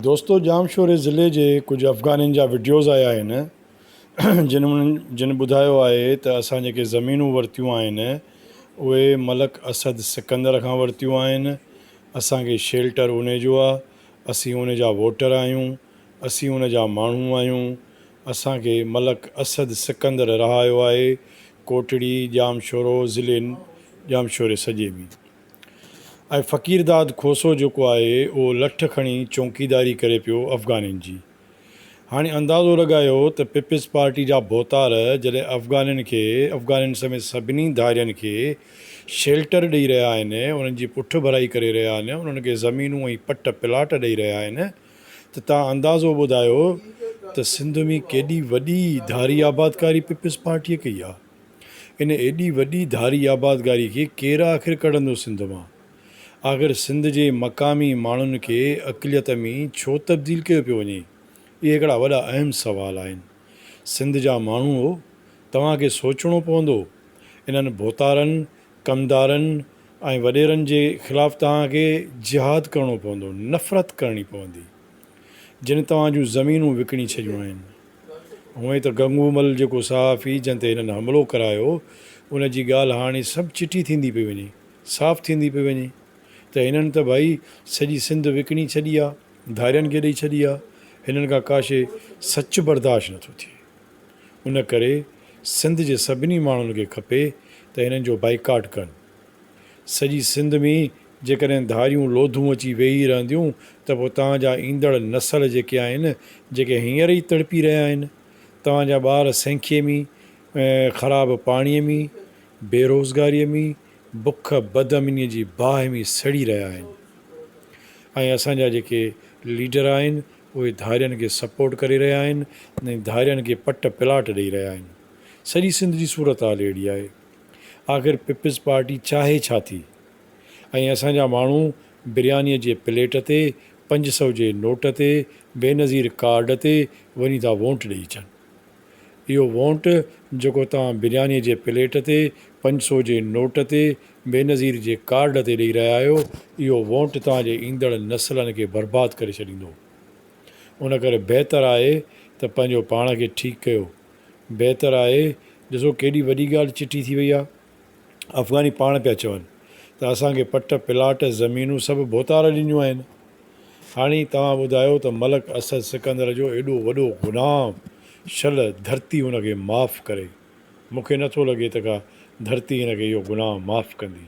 دوستو ڄام شوري ضلعي جي ڪجهه افغانين جا وڊيوز آيا آهن جن جن ٻڌايو آهي ته اسان جيڪي زمينون ورتيون آهن اهي ملڪ اسد سڪندر کان ورتيون آهن اسان کي شيلٽر ان جو آهي اسين ان جا ووٽر آهيون اسين ان جا ماڻهو آهيون اسان کي ملڪ اسد سڪندر رهايو آهي ڪوٽڙي ڄام شورو ضلعي ڄام شوري سڄي ۾ ۽ فقيرداد کوسو جيڪو آهي اهو لٺ کڻي چونڪيداري ڪري پيو افغانين جي. هاڻي اندازو لڳايو ته پيپلز پارٽي جا ڀوتار جڏهن افغانين کي افغانين سميت سڀني ڌارين کي شيلٽر ڏئي رهيا آهن، انهن جي پٺڀرائي ڪري رهيا آهن، انهن کي زمينون ۽ پٽ پلاٽ ڏئي رهيا آهن ته توهان اندازو ٻڌايو ته سنڌ ۾ ڪيڏي وڏي ڌاري آبادڪاري پيپلز پارٽيء ڪئي آهي. ان ايڏي وڏي ڌاري آبادگاري کي ڪير آخر ڪڍندو سنڌ مان؟ آخر سنڌ جي مقامي ماڻهن کي اقليت ۾ ڇو تبديل ڪيو پيو وڃي؟ اهي هڪڙا وڏا اهم سوال آهن. سنڌ جا ماڻهوء! توهان کي سوچڻو پوندو. انهن ڀوتارن، ڪمدارن ۽ وڏيرن جي خلاف توهان کي جهاد ڪرڻو پوندو، نفرت ڪرڻي پوندي. جن توهان جون زمينون وڪڻي ڇڏيون آهن. هونئن ته گنگو مل جيڪو صحافي جنهن تي هنن حملو ڪرايو ان جي ڳالهه هاڻي سڀ چٽي ٿيندي پئي وڃي صاف ٿيندي پئي وڃي ته هنن ته ڀائي سڄي سنڌ وڪڻي ڇڏي آ ڌارين کي ڏئي ڇڏي آ هنن کان ڪاشي سچ برداشت نه ٿو ٿئي ان ڪري سنڌ جي سڀني ماڻهن کي کپي ته هنن جو بائيڪاٽ ڪن. سڄي سنڌ ۾ جيڪڏهن ڌاريون لوڌون اچي ويهي رهنديون ته پوء توهان جا ايندڙ نسل جيڪي آهن، جيڪي هينئر ئي تڙپي رهيا آهن، توهان جا ٻار سينکي ۾، خراب پاڻي ۾، بيروزگاري ۾، بک، بد امني جي باهه ۾ سڙي رهيا آهن ۽ اسان جا جيڪي ليڊر آهن اهي ڌارين کي سپورٽ ڪري رهيا آهن ۽ ڌارين کي پٽ پلاٽ ڏئي رهيا آهن. سڄي سنڌ جي صورتحال اهڙي آهي. آخر پيپلز پارٽي چاهي ڇا ٿي ۽ اسان جا ماڻهو بريانيء جي پليٽ تي، پنج سئو جي نوٽ تي، بينظير ڪارڊ تي وڃي ٿا وونٽ ڏئي اچن. اهو وونٽ جيڪو توهان بريانيء جي پليٽ تي، پنج سئو جي نوٽ تي، بينظير جي ڪارڊ تي ڏئي رهيا آهيو، اهو وونٽ توهان جي ايندڙ نسلن کي برباد ڪري ڇڏيندو. ان ڪري بهتر آهي ته پنهنجو پاڻ کي ٺيڪ ڪيو بهتر آهي ڏسو ڪيڏي وڏي ڳالهه چٽي ٿي وئي آهي افغاني پاڻ پيا چون ته اسان کي پٽ پلاٽ زمينون سڀ ڀوتار ڏنيون آهن هاڻي توهان ٻڌايو ته ملڪ اسد سڪندر جو ايڏو وڏو غلام شل ڌرتي هن کي معاف ڪري مون کي نٿو لڳي ته ڪا ڌرتي هن کي اهو گناهه معاف ڪندي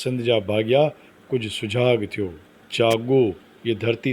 سنڌ جا ڀاڳيا ڪجهه سجاڳ ٿيو جاڳو هيء ڌرتي